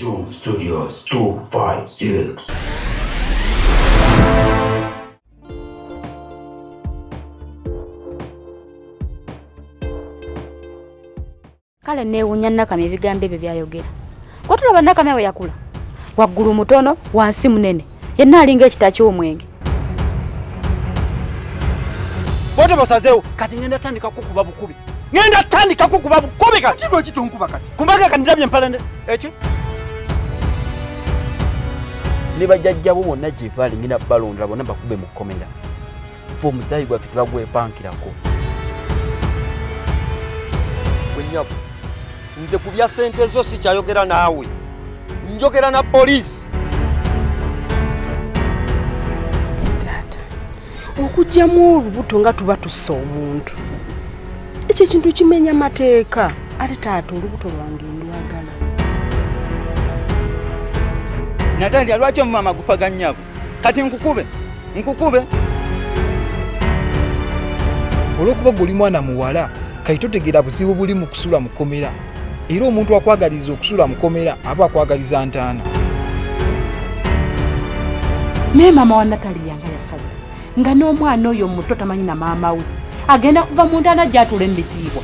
Zoom Studios 256. kale neewunya nakamya ebigambo ebyo byayogera kwatulaba nakamya bwe yakula waggulu mutono wansi munene yenna alinga ekita ky'omwenge bote basazeewo kati ngenda tandika kukuba bukubi ngenda tandika kukuba bukubi kati lwaki tonkuba kati kumbaga kandilabye empalande eki ne bajajjabo bonna gye baali ngenda balondera bonna bakube mu kkomera ffe omusaayi gwaffe tebagwepankirako gwenyabo nze ku bya sente zo sikyayogera naawe njogera na poliisi taata okugyamu olubuto nga tuba tussa omuntu ekyo ekintu kimenya mateeka ate taata olubuto lwange ndwagala natandika lwaki omumama gufaganyabo kati nkukube nkukube olwokuba gwe oli mwana muwala kati totegeera buzibu buli mu kusula mukomera era omuntu akwagaliza okusula mukomera aba akwagaliza ntaana naye maama wa natali yanga yafa nga n'omwana oyo muto tamanyi na maama we agenda kuva mu ntaana gyatula emitiibwa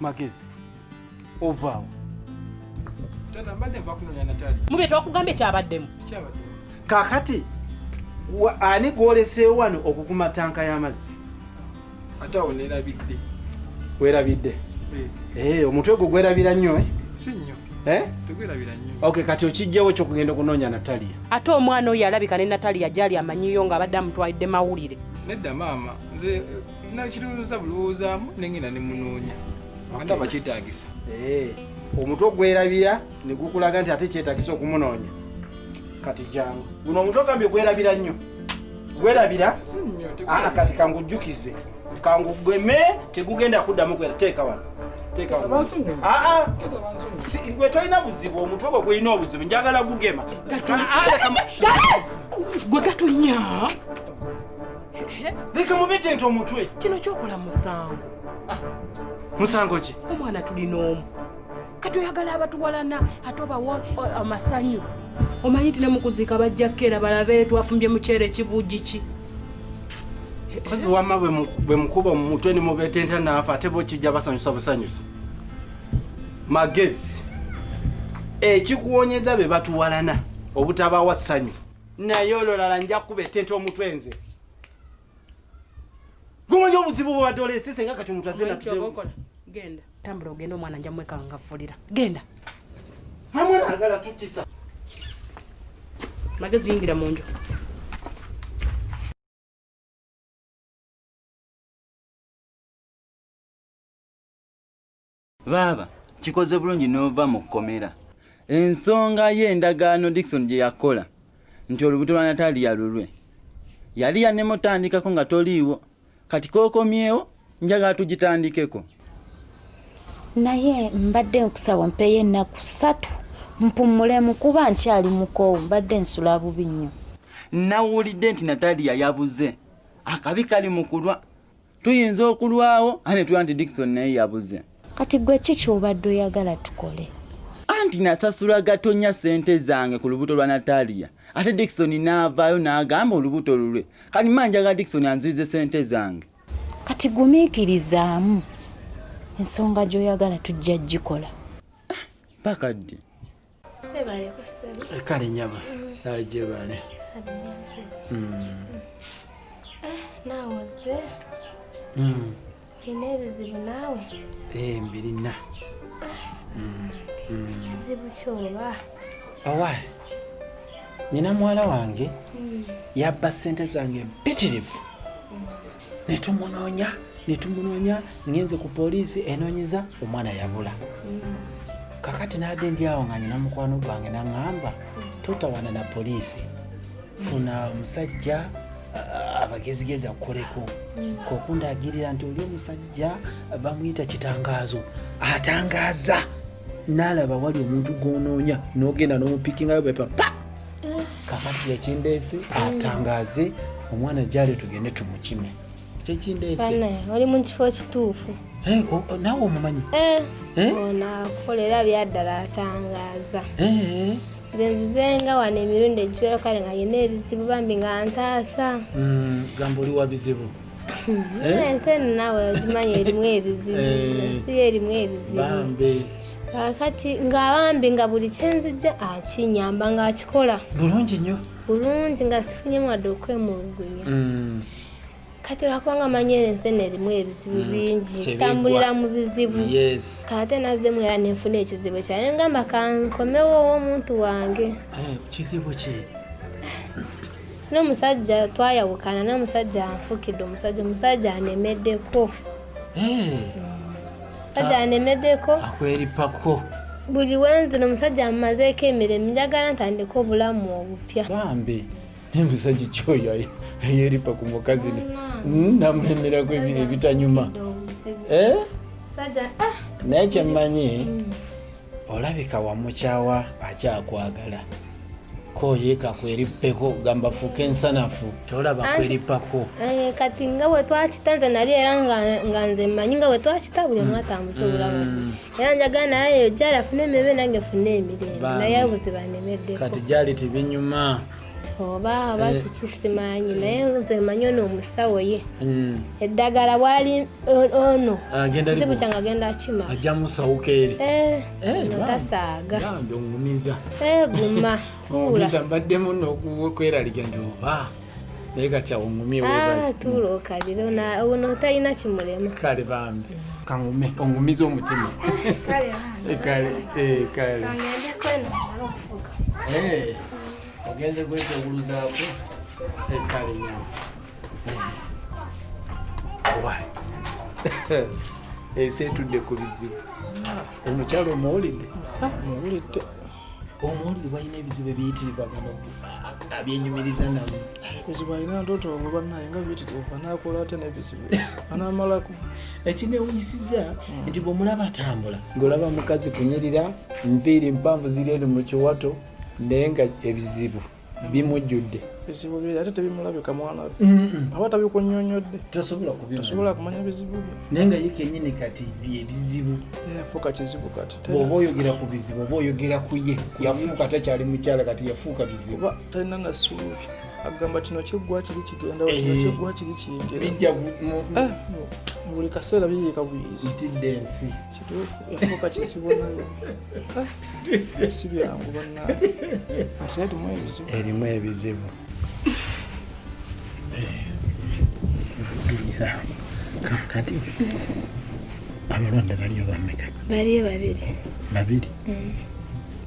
magezi ovaawo taata mbadde nva kunonya natali mube twakugambye kyabaddemu kyabaddemu kakati ani gwoleseewo wano okukuma tanka y'amazzi ate awo nerabidde werabidde eh. Eh, omutwe gwo gwerabira nnyo eh? si nnyo ok kati okijjawo kyokugenda okunoonya nataliya ate omwana oyo alabika ne nataliya gyali amanyiyo nga abadde amutwalidde mawulire nedda maama nze nakirowooza bulowoozaamu nengenda ne munoonya anda bakyetagisa eh, omutwe ogwerabira negukulaga nti ate kyetagisa okumunoonya kati jangu guno omutwe ogambye gwerabira nnyo gwerabira ah, kati kangujjukize kangugeme tegugenda kuddamu kwera teeka wano gwe tolina buzibu omutwe gwe gulina obuzibu njagala gugema gwe gatonya leka mubite nti omutwe kino kyokola musango ah, musango ki omwana tulina omu kati oyagala abatuwalana ate obawo amasanyu omanyi nti nemukuziika bajja kukeera balabe twafumbye muceere ekibuugi ki kazi wama bwemukuba omumutwe nimubetenta naafa ate bokijja basanyusa busanyusa magezi ekikuwonyeza be batuwalana obutabawa ssanyu naye ololala nja kukuba ettente omutwe nze gumanyi obuzibu bubadde olesese nga kati omuntu azenatgenda tambula ogenda omwana nja mwekangafulira genda amwana agala tutisa magezi yingira mu nju baaba kikoze bulungi n'ova mu kkomera ensonga ye endagaano dikson gye yakola nti olubuto lwa nataliya lulwe yali yanemutandikako nga toliiwo kati kokomyewo njagala tugitandikeko naye mbadde nkusaba mpeyo ennaku satu mpumulemu kuba nkyali mukoowu mbadde nsula bubi nnyo nawulidde nti nataliya yabuze akabi kali mukulwa tuyinza okulwawo ane tuba nti dikison naye yabuze kati gwe ki kyobadde oyagala tukole anti nasasula gatonya sente zange ku lubuto lwa natalia ate dikison naavaayo naagamba olubuto lulwe kati manjaga dikison anzibize sente zange kati gumiikirizaamu ensonga gyoyagala tujja gikola mpaka ddi kale nyaba ajebale nawoze olina ebizibu naawe mbirina ekizibu kyoba owa nyina muwala wange yabba ssente zange mpitirivu ne tumunoonya ne tumunoonya ngenze ku poliisi enoonyeza omwana yabula kakati naadde ndi awo nga nyina mukwano gwange naŋŋamba totawana na poliisi funa omusajja abagezigezi akukoleko mm. kokundagirira nti oli omusajja bamuyita kitangaazo atangaaza naalaba wali omuntu gwonoonya n'ogenda n'omupikingayo bepapa kakati yekindeese atangaze omwana gyali tugende tumukime kyekindeese oli mu kifo kituufu eh, naawe omumanyi eh, eh? onakolera byaddala atangaza nze nzizenga wano emirundi egiwera kale nga yina ebizibu bambi nga ntaasa mm, gamba oli wa bizibu Eh? ensi eno naawe ogimanyi erimu ebizibu eh. ensi erimu ebizibu kakati nga bambi nga buli kyenzijja akinyamba nga akikola bulungi nnyo bulungi nga sifunye mwadde okwemulugunya mm. kati olwakubanga manyi eno ensi eno erimu ebizibu mm. bingi zitambulira mu bizibu kate nazemu era nenfuna ekizibu kyaye ngamba kankomewo owomuntu wange eh, kizibu ki n'omusajja twayawukana n'omusajja anfukidde omusajja omusajja anemeddeko omusajja anemeddeko akweripako buli wenzi nomusajja amumazeeko emiremu njagala ntandika obulamu obupya bambi naye musajja kyoyo ayeripa ku mukazi hmm, namulemerako ebitanyuma eh? ah! naye kyemmanyi hmm. olabika wamukyawa akyakwagala koyeka kwerippeko gamba fuuka ensanafu tolaba kwerippako eh, kati nga bwe twakita nze nali era nga nze mmanyi nga bwe twakita buli omu mm. atambuza obulamu mm. era njagala naye eyo gyali afuna emirembe nange funa emirembe naye abuzibanemeddeko kati gyali tibinyuma oba oba eh. kiki simanyi naye nze manyi ono omusawo ye hmm. eddagala bwali ono ah, kizibu kyange agenda kima ajja musawuka eri eh, eh, no tasaaga ongumiza guma tuula mbaddemu nokweralikira nti oba naye kati awo ngumye ah, tuula okalire ono talina kimulema kale bambi kangume ongumiza omutima kale kale kale ogenze kwetewuluzaako ettale nyama ensi etudde ku bizibu omukyalo omuwulidde muwulidde omuwulidde balina ebizibu ebiyitirirwa gano abyenyumiriza namu ebizibu alina ndoto olwo banaye nga biyitirirwa nakola ate nebizibu anamalako ekinewuyisiza hmm. nti bwomulaba atambula ngaolaba mukazi kunyirira nviiri mpanvu ziri eri mu kiwato naye nga ebizibu bimujjudde bizibu bye ate tebimulabika mwana we aba tabikunyonyodde tasobola kumanya bizibu bye naye nga ye kenyini kati byebizibu yafuuka kizibu kati oba oyogera ku bizibu oba oyogera ku ye yafuuka takyali mukyala kati yafuuka bizibu talina nasuubi agamba kino kiggwa kiri kigenda eh. kino kiggwa kiri kiyingira eh, buli kaseera biyiika buyizi itidde ensi kituufu yafuuka kisibo nayo ah, si byangu banna asi erimu ebizibu erimu ebizibu kakati abalwadde baliyo bameka baliyo babiri babiri mm.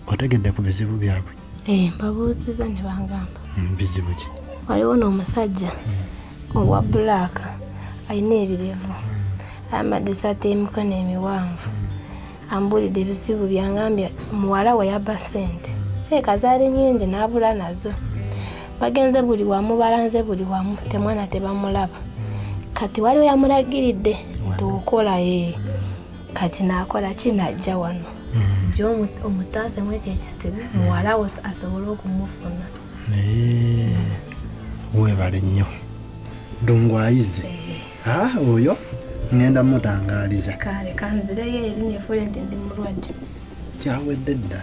otegedde ku bizibu byabwe eh, mbabuuziza ne bangamba mm, bizibu ki waliwo n'omusajja mm. owa bulaaka alina ebirevu ayambadde esaati y'emikono emiwanvu ambuulidde ebizibu byangambye muwala we yabba ssente kireka zaali nyingi n'abula nazo bagenze buli wamu balanze buli wamu temwana tebamulaba kati waliwo yamulagiridde nti okola ee kati naakola ki najja wano mm. jo omutaasemu ekyo ekisibu muwala we asobole okumufuna naye webale nnyo dungu ayize eh. ah, oyo ŋŋenda mutangaliza kale kanzireyo eri nefuule nti ndi mulwadde kyawedde dda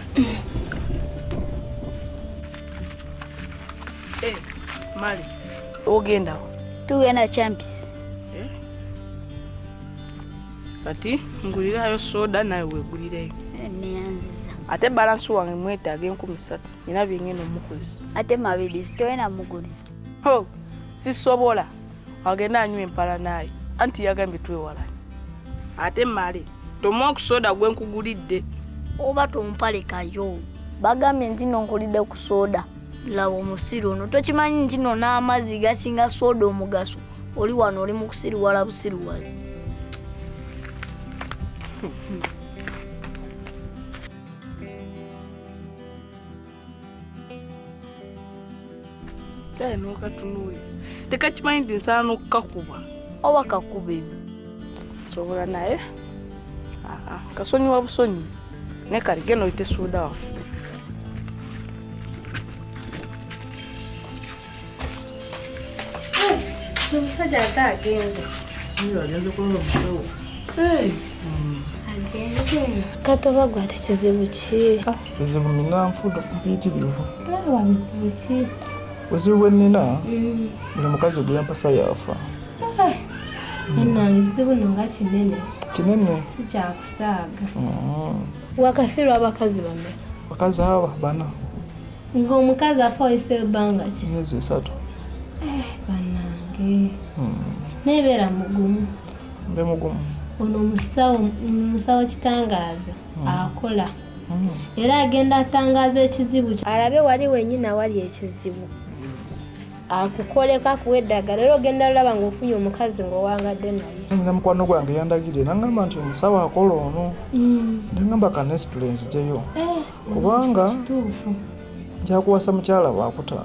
eh, mali ogendawo tugenda champis eh? kati ngulirayo soda nawe wegulireyo neyanziza ate balansi wange mwetaaga enkumi satu nina byengenda omukuzi ate mabidi sitoyena muguli ho sisobola agenda anywa empala naye anti yagambye twewalani ate male tomwa okusoda gwe nkugulidde oba tompalekayo bagambye nti no nkulidde ku soda laba omusiru ono tokimanyi nti no n'amazzi gasinga soda omugaso oli wano oli mukusiriwala busiriwazi kale nokatunuulira tekakimanyi nti nsaana okukakuba oba kakuba ebyo sobola naye kasonyiwa busonyi naye kali genda oyite suuda waffe omusajja ate agenze agenze kulaba musawo katoba gwe ate kizibu ki kizibu nina nfudo mpitirivu aba bizibu ki buzibu bwe nina buli mukazi gwe yampasa yafa enange kizibu no nga kinene kinene sikyakusaaga wakafirwa abakazi bameka bakazi aba bana Nga omukazi afa oyise ebbanga ki? Myezi esatu. Eh, banange. Hmm. Naye beera mugumu. Mbe mugumu. Ono omusawo musawo kitangaaza hmm. akola. Hmm. Era agenda atangaaza ekizibu kyo. Alabe wali wenyini awali ekizibu. akukoleko akuwa eddagala era ogenda lulaba nga ofunye omukazi ngaowangadde naye nina mukwano gwange yandagidde nangamba nti omusawo akola ono mm. nangamba kanesitule nzijeyo eh. kubanga njakuwasa mukyala wakuta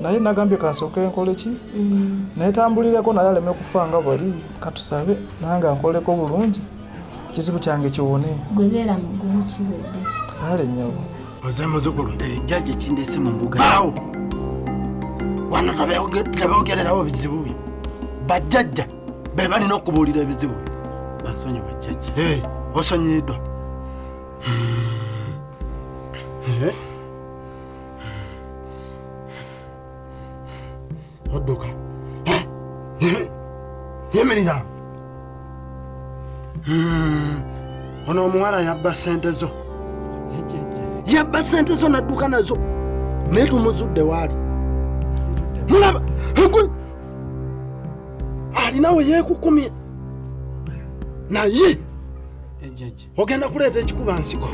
naye nagambye kansooke nkole ki mm. naye tambulireko naye aleme kufa nga bwali katusabe nange ankoleko bulungi kizibu kyange kiwone gwebeera mugumu kiwedde kale nyabo oze muzukulu eh, jaji ekindese mu mbuga awo wano tabaogererawo bizibu bye bajjajja be balina okubuulira ebizibu basonyiwa jaji eh, osonyiyiddwa odduka yimiriza ono omuwala yabba sente zo yabba sente zo nadduka nazo naye tumuzudde waali mulaba alinawe yekukumye naye ejaja ogenda kuleeta ekikuba nsigo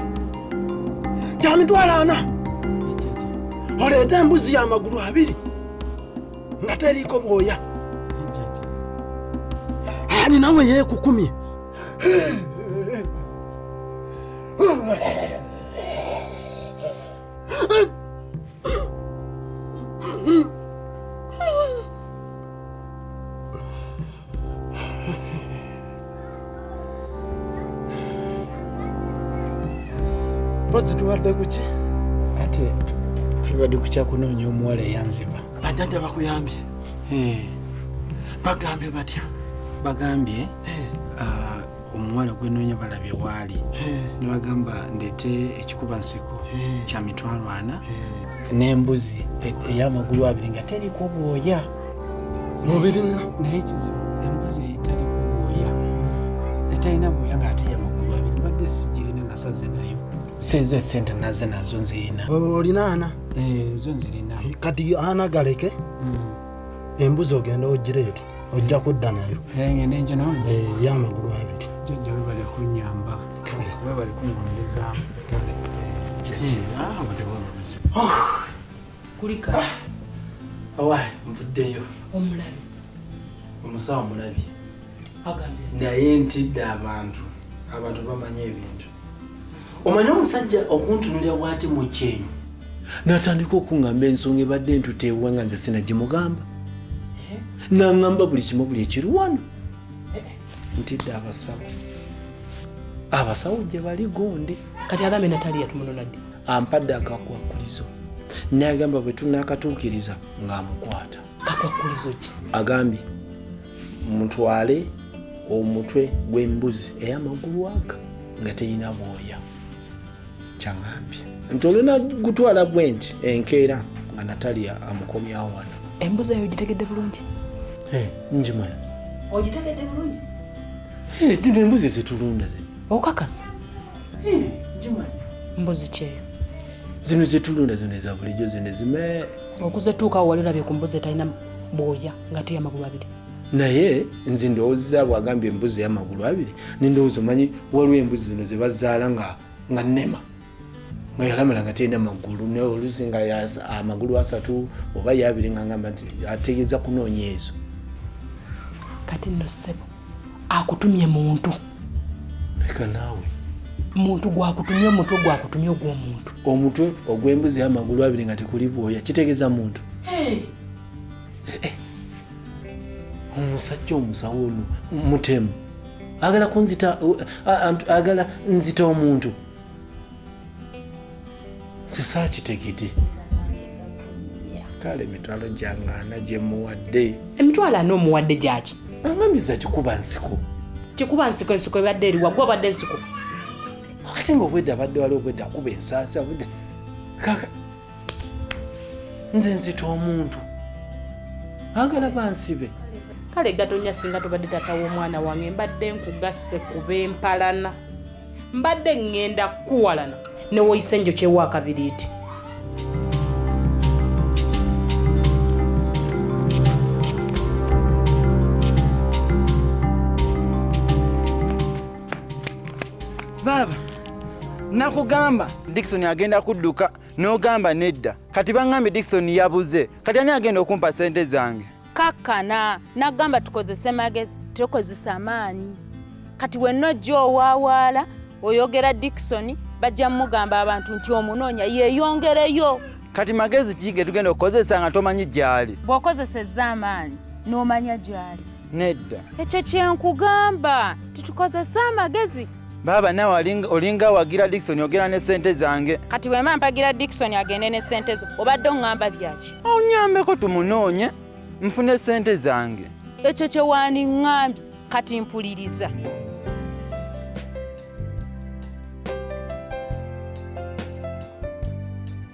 kya mitwalo ana oleete embuzi y'amagulu abiri nga teriiko bwoya ani nawe yeekukumye mpozi tubadde kuki ate tubadde kukyakunoonya omuwala eyanziba bajjajja bakuyambye eh. bagambye batya bagambye eh. ah, omuwala gwenoonya balabye waali nebagamba ndeete ekikuba nsiko kya mitwalo ana n'embuzi e- ey'amagulu abiri nga teriko bwoya mubirina naye ekizibu embuzi etariko bwoya etalina bwoya ng'ate yamagulu abiri badde sigirina nga saze nayo seezo esente naze nazo nzirina olinaana eh, zo nzirina kati ana galeke mm. embuzi ogenda ogireeti ojja kudda nayo eyamagulu eh, abiri jajja webale kunyamba webale kungonezaamu kulika ah, awa nvuddeyo omulabi omusawo omulabi naye ntidde abantu abantu bamanya ebintu omanyi omusajja okuntunulira bwati mu kyenyi natandika okuŋŋamba ensonga ebadde entuteewa nga nze sinagimugamba eh? naŋŋamba buli kimu buli ekiri wano eh, eh. ntidde abasawo abasawo gye bali gonde kati alame nataliya tumunonadde ampadde akakwakkulizo nayagamba bwe tunaakatuukiriza ng'amukwata kakwakkulizo ki agambye mutwale omutwe gw'embuzi ey'amagulu aga nga terina bwoya kyaŋambye nti olina gutwala bwenti enkeera nga natalia amukomyawo wano embuzi eyo ogitegedde bulungi eh, njimana ogitegedde bulungi eh, zino embuzi zetulunda ze okakasa eh, mbuzi kyeyo zino zetulunda zino eza bulijjo zino ezime okuzetuukawo wali olabye ku mbuzi etalina bwoya ngate yamagulu abiri naye nze ndowooza bwagambye embuzi eyamagulu abiri nendowooza omanyi waliwo embuzi zino zebazaala nga nga nema nga yalamala nga terina magulu naye oluzi nga amagulu asatu oba yabiri ngangamba nti ategeeza kunoonya ezo kati no sebo akutumye muntu leka naawe muntu gwakutumye omutwe gwakutumye ogwomuntu omutwe ogwembuzi amagulu abiri nga tekuli bwoya kitegeeza muntu eh, eh. omusajja omusawo ono mutemu agala kunzita agala nzita omuntu sisaakitegede kale emitwalo gyangana gyemuwadde emitwalo ana omuwadde gyaki angamiza kikuba nsiko kikuba nsiko ensiko ebadde eriwa gwe abadde ensiko ate nga obwedda abadde wali obwedda akuba ensaasi abudde kaka nze nzita omuntu agala bansibe kale gatonya singa tubadde tata w'omwana wange mbadde nkugasse kuba empalana mbadde ŋŋenda kukuwalana ne woyise njokyewo akabiriiti baaba nakugamba dikisoni agenda kudduka n'ogamba nedda kati bangambye dikisoni yabuze kati ani agenda okumpa sente zange kakkana nagamba tukozese magezi tukozesa amaanyi kati wenna ojja owaawaala oyogera dikisoni bajja mugamba abantu nti omunoonya yeeyongereyo kati magezi ki ge tugenda okukozesa nga tomanyi gyali bw'okozesezza amaanyi n'omanya gyali nedda ekyo kyenkugamba titukozese amagezi Baba nawe olinga awagira Dickson ogera ne sente zange. Kati wema mpagira Dickson agende ne sente zo. Obadde ongamba byaki? Onyambeko tumunoonye nfune sente zange. Ekyo kye wandingambye kati mpuliriza.